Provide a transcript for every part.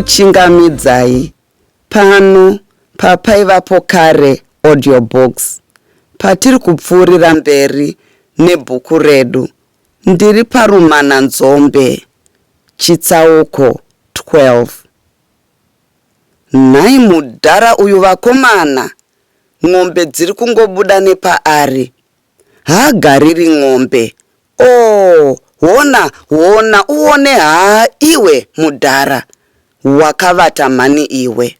ndinokuchingamidzai pano papaivapo kare audiobox patiri kupfuurira mberi nebhuku redu ndiri parumana nzombe chitsauko 12 Nhai mudhara uyu vakomana n'ombe dziri kungobuda nepaari haagariri n'ombe ooh hona hona uone haa iwe mudhara wakavata mhani iwe.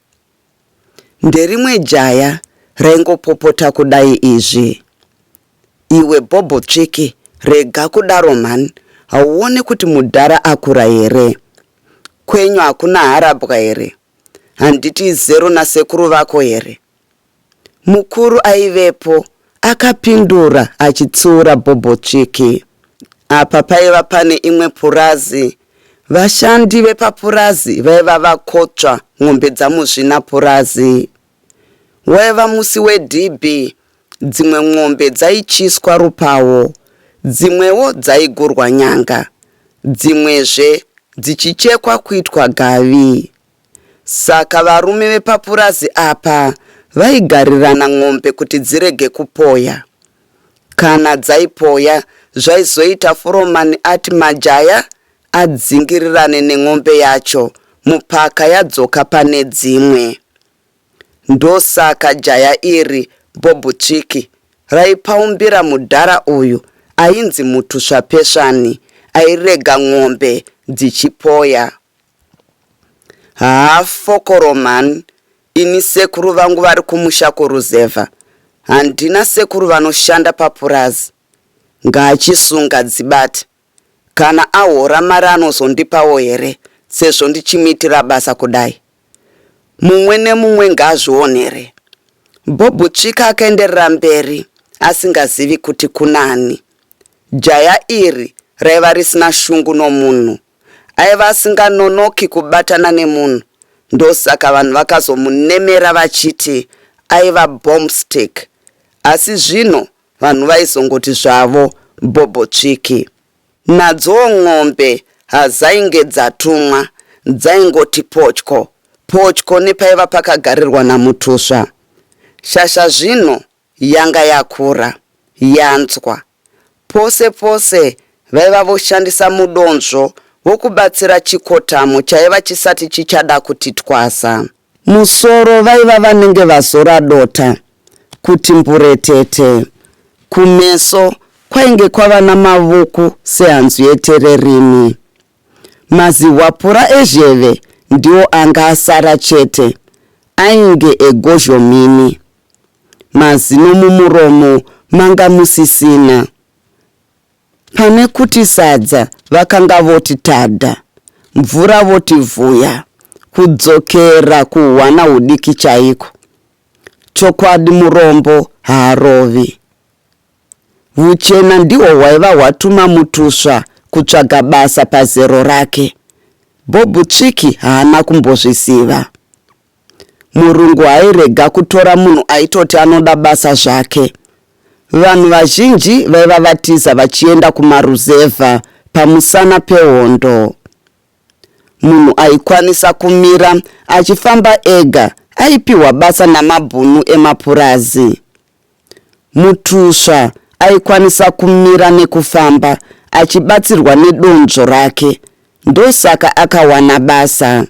Nderimwe jaya raingopopota kudai izvi Iwe bhobho tsviki rega kudaro mhan hauone kuti mudhara akura here kwenyu hakuna harabwa here handiti izero nasekuru vako here mukuru aivepo akapindura achitsiura bhobho tsviki apa paiva pane imwe purazi vashandi vepapurazi vaiva vakotsva n'ombe dzamuzvina purazi Waiva musi wedhibhi, dzimwe n'ombe dzaityiswa rupawo, dzimwewo dzaigurwa nyanga, dzimwezve dzichichekwa kuitwa gavi. Saka varume vepapurazi apa vaigarirana n'ombe kuti dzirege kupoya. Kana dzaipoya zvaizoita furomani ati majaya adzingirirane nen'ombe yacho mupaka yadzoka pane dzimwe. Ndosaka jaya iri Bhobhuchiki raipaumbira mudhara uyu ainzi Mutusvapesvani airega n'ombe dzichipoya. Haa fokoro mhani, ini sekuru vangu vari kumusha kuruzevha. Handina sekuru vanoshanda papurazi. Ngaachisunga dzibate. Kana ahora mari anozondipawo here sezvo ndichimuitira basa kudai? Mumwe nemumwe ngaazvionere. Bob Tsvika akaenderera mberi asingazivi kuti kunani. Jaya iri raiva risina shungu nomunhu. Aiva asinganonoki kubatana nemunhu ndosaka vanhu vakazomunemera vachiti aiva bombstick asi zvino vanhu vaizongoti zvavo bhobho tsviki. Nadzoo n'ombe hazainge dzatumwa dzaingoti potyo potyo nepaiva pakagarirwa naMutusva. Shasha zvino yanga yakura, yanzwa. Pose pose vaiva voshandisa mudonzvo wokubatsira chikotamo chaiva chisati chichada kuti twasa. Musoro vaiva vanenge vazora dota kuti mburetete. Kumeso kwainge kwava namavuku sehanzu yetererimi. Mazihwapura ezheve ndiwo anga asara chete, ainge egozhomini. Mazino mumuromo manga musisina. Pane kuti sadza vakanga voti tada, mvura voti vhuya, kudzokera kuhwana hudiki chaiko. Chokwadi murombo haarovi. Huchena ndihwo hwaiva hwatuma Mutusva kutsvaga basa pazero rake. Bob Tsviki haana kumbozviziva. Murungu hairega kutora munhu aitoti anoda basa zvake. Vanhu vazhinji vaiva vatiza vachienda kumaruzevha pamusana pehondo. Munhu aikwanisa kumira achifamba ega aipiwa basa namabhunu emapurazi. Mutusva aikwanisa kumira nekufamba achibatsirwa nedonzvo rake ndosaka akawana basa.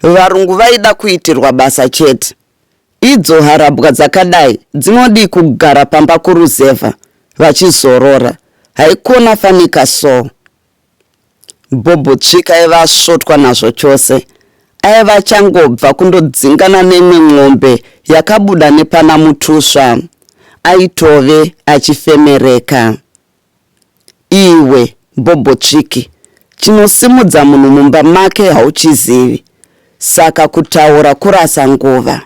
Varungu vaida kuitirwa basa chete. Idzo harabwa dzakadai dzinodii kugara pamba kuruzevha vachizorora. Haikona fanika so. Bhobho tsvika aiva asvotwa nazvo chose. Aiva achangobva kundodzingana nemwe n'ombe yakabuda nepana mutusva. Aitove achifemereka. Iwe bhobhotsviki chinosimudza munhu mumba make hauchizivi saka kutaura kurasa nguva.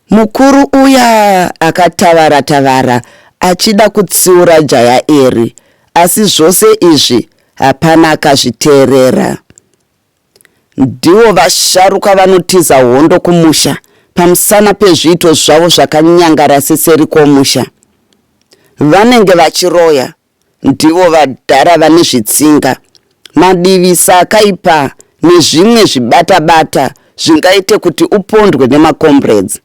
Mukuru uya akatavara tavara achida kutsiura jaya iri asi zvose izvi hapana akazviteerera. Ndivo vasharuka vanotiza hondo kumusha pamusana pezviito zvavo zvakanyangara seseri kwomusha. Vanenge vachiroya ndivo vadhara vane zvitsinga, madivisa akaipa nezvimwe zvibata-bata zvingaite kuti upondwe nemacomrades.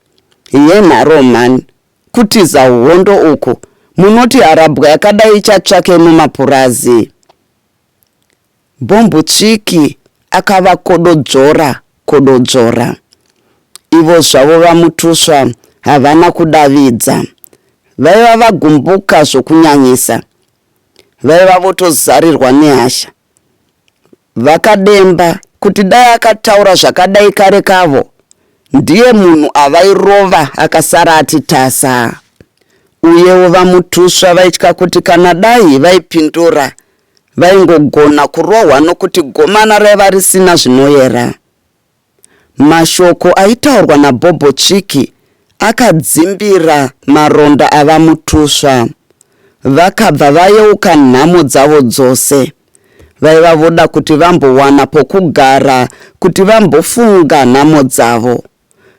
Yenharo mhani, kutiza hondo uku munoti harabwa yakadai ichatsvakei mumapurazi? Bhombotsviki akavakododzora kododzora. Ivo zvavo VaMutuswa havana kudavidza. Vaiva vagumbuka zvokunyanyisa. Vaiva votozarirwa nehasha. VaKademba kuti dai akataura zvakadai kare kavo, ndiye munhu avairova akasara ati tasa. Uyewo VaMutuswa vaitya kuti kana dai vaipindura Vaingogona kurohwa nokuti gomana raiva risina zvinoyera. Mashoko aitaurwa naBhobho Chiki akadzimbira maronda aVaMutuswa. Vakabva vayeuka nhamo dzavo dzose. Vaiva voda kuti vambowana pokugara kuti vambofunga nhamo dzavo.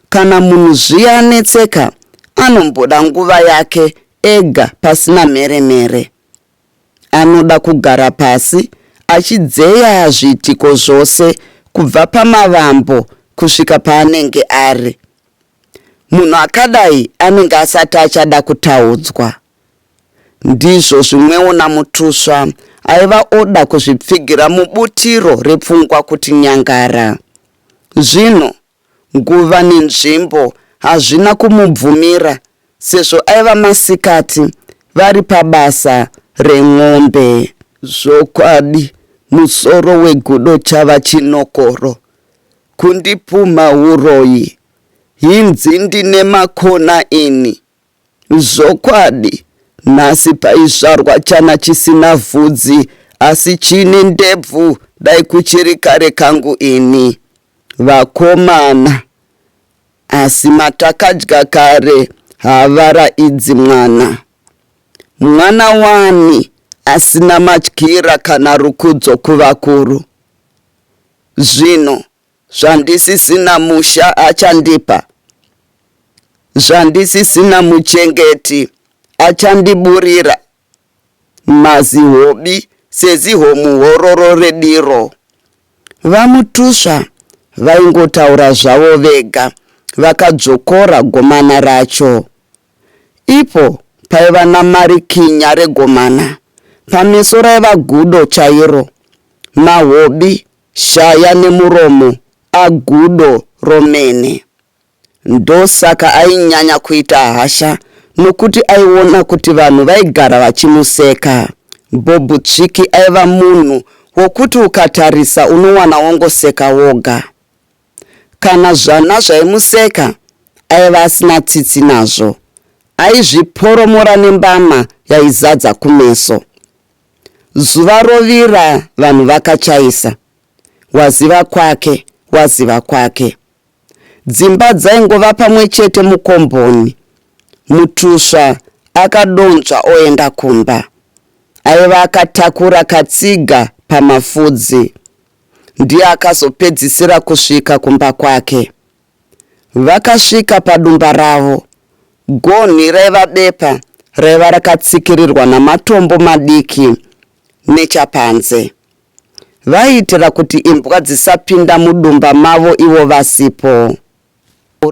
Kana munhu zviya anetseka anomboda nguva yake ega pasina mhere mhere. Anoda kugara pasi achidzeya zviitiko zvose kubva pamavambo kusvika paanenge ari. Munhu akadai anenge asati achada kutaudzwa. Ndizvo zvimwewo naMutusva aiva oda kuzvipfigira mubutiro repfungwa kuti nyangara. Zvino nguva nenzvimbo hazvina kumubvumira sezvo aiva masikati vari pabasa ren'ombe. Zvokwadi musoro wegudo chava chinokoro kundipumha huroyi hinzi ndine makona ini Zvokwadi nhasi paizvarwa chana chisina vhudzi asi chine ndebvu dai kuchiri kare kangu ini. Vakomana. Asi matakadya kare havara idzi mwana. Mwana wani asina matyira kana rukudzo kuvakuru. Zvino Zvandisisina musha achandipa, zvandisisina muchengeti achandiburira, mazihobi seziho muhororo rediro. VaMutusva vaingotaura zvavo vega vakadzvokora gomana racho. Ipo paiva namari kinya regomana, pameso raiva gudo chairo, mahobi Shaya nemuromo a gudo romene. Ndosaka ainyanya kuita hasha nokuti aiona kuti vanhu vaigara vachimuseka. Bob Tsviki aiva munhu wokuti ukatarisa unowana wongoseka woga. Kana zvana zvaimuseka aiva asina tsitsi nazvo. Aizviporomora nembama yaizadza kumeso. Zuva rovira vanhu vakachaisa. Waziva kwake, waziva kwake. Dzimba dzaingova pamwe chete mukomboni. Mutusva akadonzva oenda kumba. Aiva akatakura katsiga pamafudzi. Ndiye akazopedzisira kusvika kumba kwake. Vakasvika padumba ravo. Gonhi raiva bepa raiva rakatsikirirwa namatombo madiki nechapanze. Vaiitira kuti imbwa dzisapinda mudumba mavo ivo vasipo.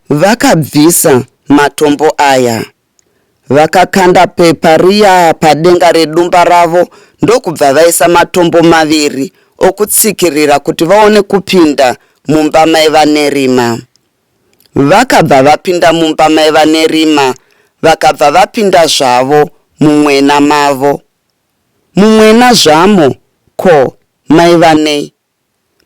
Vakabvisa matombo aya. Vakakanda pepa riya padenga redumba ravo ndokubva vaisa matombo maviri okutsikirira kuti vaone kupinda mumba maivanerima. Vakabva vapinda mumba maivanerima vakabva vapinda zvavo mumwena mavo. Mumwena zvamo ko maivanei?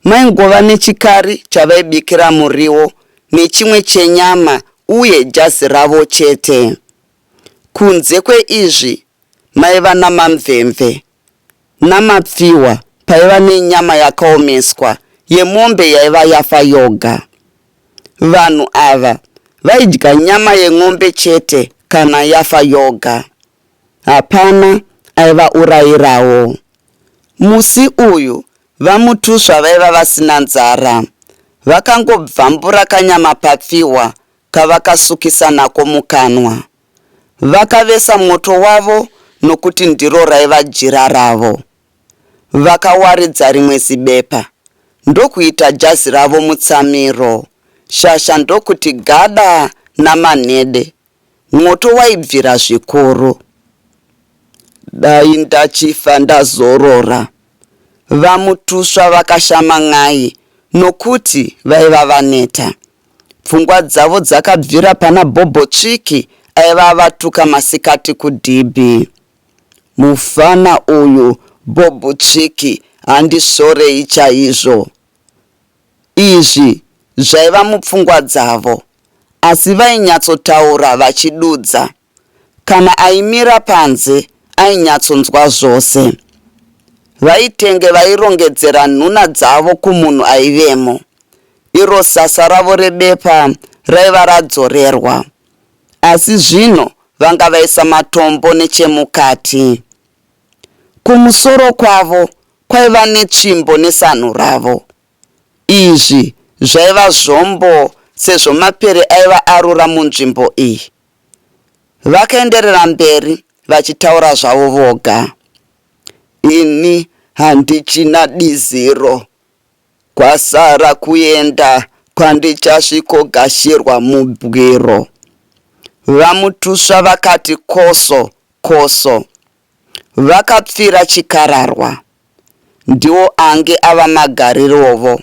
Maingova nechikari chavaibikira muriwo nechimwe chenyama uye jazi ravo chete. Kunze kweizvi maiva namamvemve namapfihwa paiva nenyama yakaomeswa yemombe yaiva yafa yoga. Vanhu ava vaidya nyama yen'ombe chete kana yafa yoga. Hapana aivaurayirawo. Musi uyu VaMutuswa vaiva vasina nzara. Vakangobvambura kanyama papfihwa kavakasukisa nako mukanwa. Vakavesa moto wavo nokuti ndiro raiva jira ravo. Vakawaridza rimwe zibepa ndokuita jazi ravo mutsamiro, shasha ndokuti gada namanhede. Mwoto waibvira zvikuru. Dai ndachifa ndazorora. VaMutusva vakashama n'ai nokuti vaiva vaneta. Pfungwa dzavo dzakabvira pana Bhobho Tsviki aiva avatuka masikati kudhibhi. Mufana uyu Bhobho Tsviki handisvorei chaizvo. Izvi zvaiva mupfungwa dzavo asi vainyatsotaura vachidudza. Kana aimira panze ainyatsonzwa zvose. VaItenge vairongedzera nhuna dzavo kumunhu aivemo. Iro sasa ravo rebepa raiva radzorerwa. Asi zvino vanga vaisa matombo nechemukati. Kumusoro kwavo kwaiva netsvimbo nesanhu ravo. Izvi zvaiva zvombo sezvo mapere aiva arura munzvimbo iyi. Vakaenderera mberi vachitaura zvavo voga. Ini handichina diziro. Kwasara kuenda kwandichasvikogashirwa mubwiro. VaMutusva vakati koso koso. Vakapfira chikararwa ndiwo ange ava magarirovo.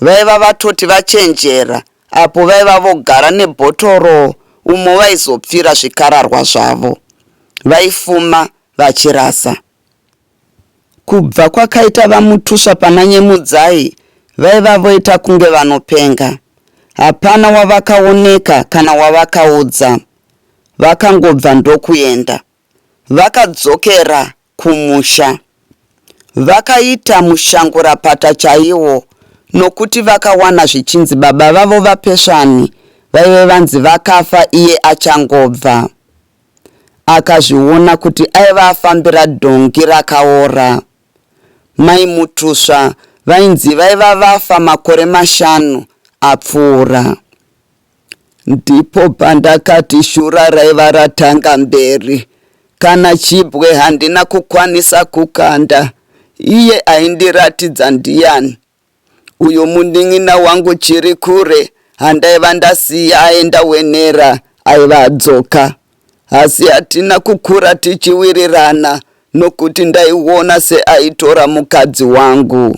Vaiva vatoti vachenjera apo vaiva vogara nebhotoro umo vaizopfira zvikararwa zvavo. Vaifuma vachirasa. Kubva kwakaita vaMutuswa pana Nyemudzai vaiva voita kunge vanopenga. Hapana wavakaoneka kana wavakaudza. Vakangobva ndokuenda. Vakadzokera kumusha vakaita mushangurapata chaiwo nokuti vakawana zvichinzi baba vavo vaPesvani vaive vanzi vakafa iye achangobva. Akazviona kuti aiva afambira dhongi rakaora. Mai Mutusva vainzi vaiva vafa makore mashanu apfuura. Ndipo pandakati shura raiva ratanga mberi. Kana chibwe handina kukwanisa kukanda. Iye aindiratidza ndiyani? Uyu munin'ina wangu Chirikure handaiva ndasiya aenda wenera aiva adzoka. Asi hatina kukura tichiwirirana nokuti ndaiona seaitora mukadzi wangu.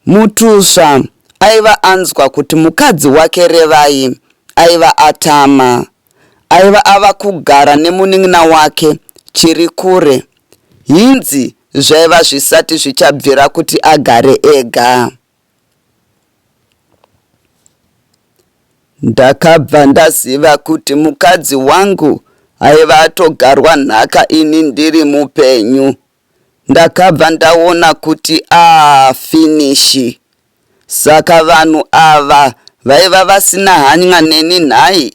Mutusva aiva anzwa kuti mukadzi wake Revai aiva atama. Aiva ava kugara nemunin'ina wake Chirikure hinzi zvaiva zvisati zvichabvira kuti agare ega. Ndakabva ndaziva kuti mukadzi wangu aiva atogarwa nhaka ini ndiri mupenyu. Ndakabva ndaona kuti aah finish. Saka vanhu ava vaiva vasina hany'a neni nhai?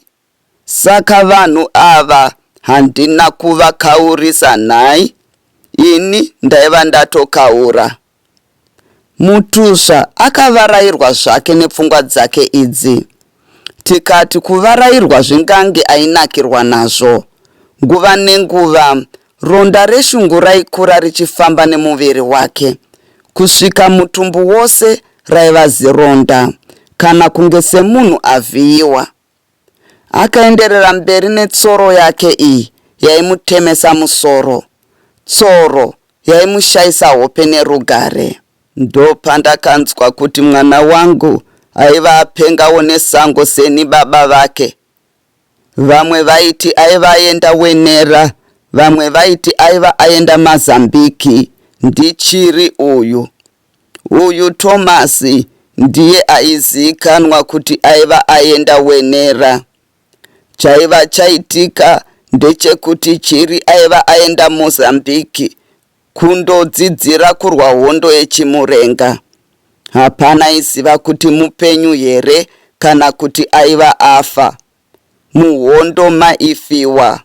Saka vanhu ava handina kuvakaurisa nhai? Ini ndaiva ndatokaura. Mutuzva akavarairwa zvake nepfungwa dzake idzi. Tikati kuvarairwa zvingange ainakirwa nazvo. Nguva nenguva ronda reshungu raikura richifamba nemuviri wake kusvika mutumbu wose raiva zironda kana kunge semunhu avhiyiwa. Akaenderera mberi netsoro yake iyi yaimutemesa musoro. Tsoro yaimushaisa hope nerugare. Ndopandakanzwa kuti mwana wangu aiva apengawo nesango seni baba vake. Vamwe vaiti aiva aenda Wenera vamwe vaiti aiva aenda Mazambiki ndichiri uyu. Uyu Thomas ndiye aiziikanwa kuti aiva aenda Wenera. Chaiva chaitika ndechekuti Chiri aiva aenda Mozambique kundodzidzira kurwa hondo yeChimurenga. Hapana aiziva kuti mupenyu here kana kuti aiva afa. Muhondo maifiwa.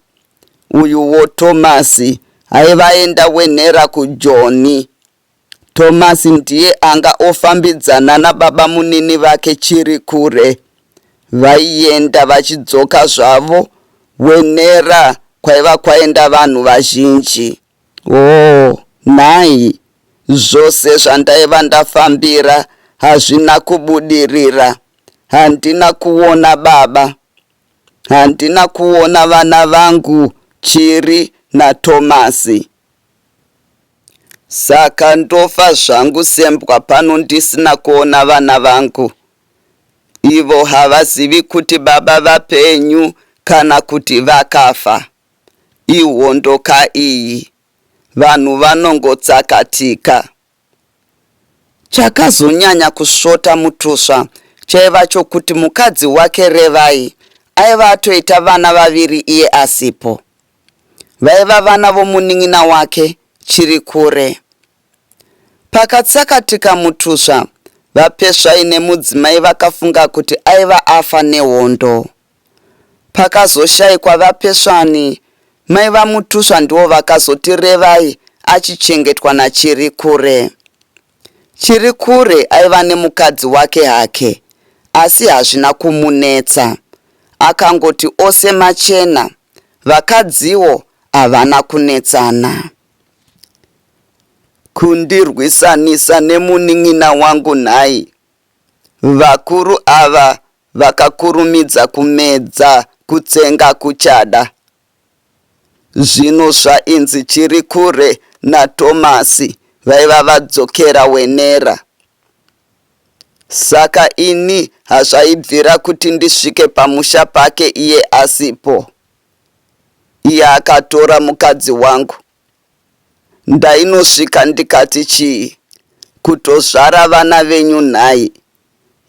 Uyuwo Thomas aiva aenda Wenera kuJoni. Thomas ndiye anga ofambidzana nababamunini vake Chirikure. Vaienda vachidzoka zvavo, Wenera kwaiva kwaenda vanhu vazhinji. Oh, nhai, zvose zvandaiva ndafambira hazvina kubudirira. Handina kuona baba. Handina kuona vana vangu Chiri naThomas. Saka ndofa zvangu sembwa pano ndisina kuona vana vangu. Ivo havazivi kuti baba vapenyu kana kuti vakafa. Ihondo ka iyi. Vanhu vanongotsakatika. Chakazonyanya kusvota Mutusva chaiva chokuti mukadzi wake Revai aiva atoita vana vaviri iye asipo. Vaiva vana vomunin'ina wake Chirikure. Pakatsakatika mutusva, VaPesvai nemudzimai vakafunga kuti aiva afa nehondo. Pakazoshaikwa VaPesvani, mai vaMutusva ndivo vakazoti Revai achichengetwa naChirikure. Chirikure aiva nemukadzi wake hake asi hazvina kumunetsa akangoti ose machena vakadziwo havana kunetsana. Kundirwisanisa nemunin'ina wangu nhai? Vakuru ava vakakurumidza kumedza kutsenga kuchada. Zvino zvainzi chiri kure naTomasi vaiva vadzokera Wenera. Saka ini hazvaibvira kuti ndisvike pamusha pake iye asipo. Iye akatora mukadzi wangu. Ndainosvika ndikati chii? Kutozvara vana venyu nhai?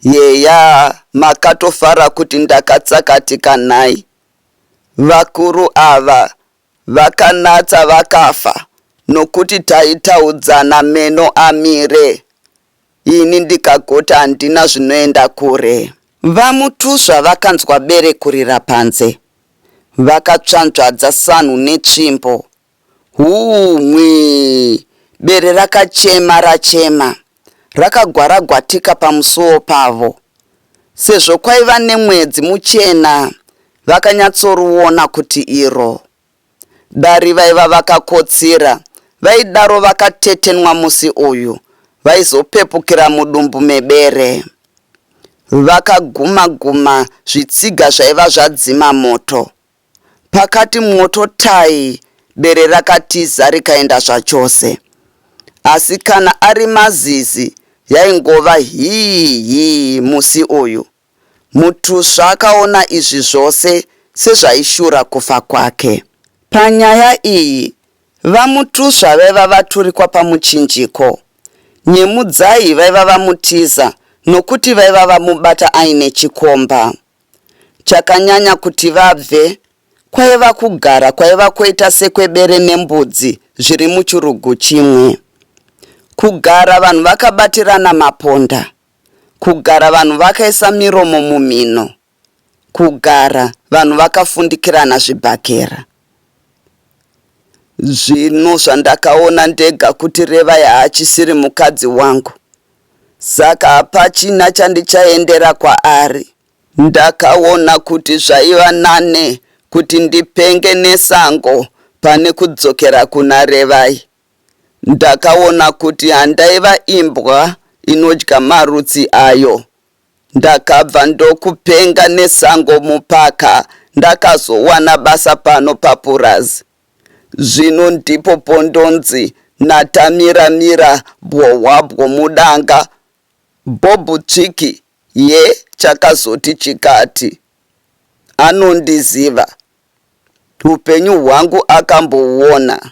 Yeya, makatofara kuti ndakatsakatika nhai? Vakuru ava vakanatsa vakafa nokuti taitaudzana meno amire ini ndikagoti handina zvinoenda kure. VaMutusva vakanzwa bere kurira panze. Vakatsvanzvadza sanhu netsvimbo Huu mwii bere rakachema rachema rakagwaragwatika pamusuwo pavo. Sezvo kwaiva nemwedzi muchena vakanyatsorwuona kuti iro dare vaiva vakakotsira vaidaro vakatetenwa musi uyu vaizopepukira mudumbu mebere. Vakaguma guma zvitsiga zvaiva zvadzima moto. Pakati mwoto tai bere rakatiza rikaenda zvachose. Asi kana ari mazizi yaingova hii hii musi uyu. Mutusva akaona izvi zvose sezvaishura kufa kwake. Panyaya iyi, VaMutusva vaiva vaturikwa pamuchinjiko. Nyemudzai vaiva vamutiza nokuti vaiva vamubata aine chikomba. Chakanyanya kuti vabve kwaiva kugara kwaiva kwoita sekwebere nembudzi zviri muchurugu chimwe. Kugara vanhu vakabatirana maponda. Kugara vanhu vakaisa miromo mumhino. Kugara vanhu vakafundikirana zvibhakera. Zvinhu zvandakaona ndega kuti Revai haachisiri mukadzi wangu. Saka hapachina chandichaendera kwaari. Ndakaona kuti zvaiva nane kuti ndipenge nesango pane kudzokera kuna Revai. Ndakaona kuti handaiva imbwa inodya marutsi ayo. Ndakabva ndokupenga nesango mupaka ndakazowana basa pano papurazi zvino ndipo pondonzi naTamira mira bwohwabwo mudanga Bob Tsviki ye chakazoti chikati anondiziva hupenyu hwangu akambohuona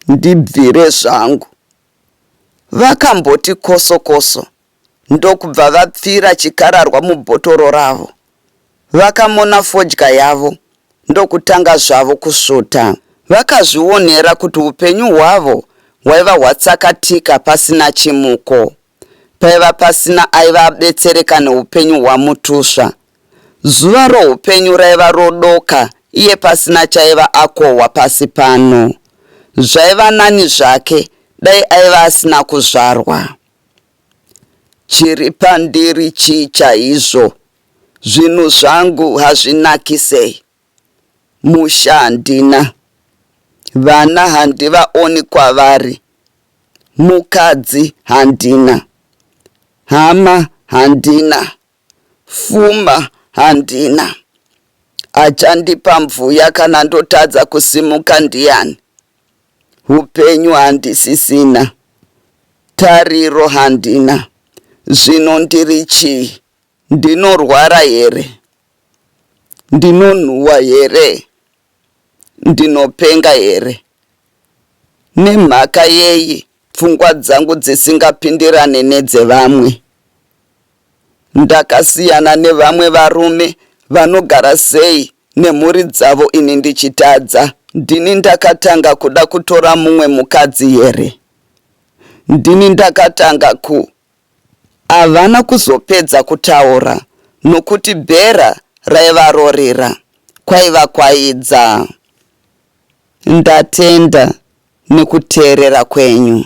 ndibvire zvangu. Vakamboti koso koso ndokubva vapfira chikararwa mubhotoro ravo. Vakamona fodya yavo ndokutanga zvavo kusvuta. Vakazvionera kuti upenyu hwavo hwaiva hwatsakatika pasina chimuko. paiva pasina aiva abetsereka neupenyu hwaMutusva. Zuva roupenyu raiva rodoka iye pasina chaiva akohwa pasi pano. Zvaiva nani zvake dai aiva asina kuzvarwa. Chiri pandiri chii chaizvo? Zvinhu zvangu hazvinakisei? Musha handina. Vana handivaoni kwavari. Mukadzi handina. Hama handina. Fuma handina. Achandipa mvuya kana ndotadza kusimuka ndiyani? Hupenyu handisisina. Tariro handina. Zvino ndiri chii? Ndinorwara here? Ndinonhuwa here? Ndinopenga here? Nemhaka yei pfungwa dzangu dzisingapindirane nedzevamwe? Ndakasiyana nevamwe varume vanogara sei nemhuri dzavo ini ndichitadza? Ndini ndakatanga kuda kutora mumwe mukadzi here? Ndini ndakatanga ku Havana kuzopedza kutaura nokuti bhera raivarorera kwaiva kwaidza. Ndatenda nekuteerera kwenyu.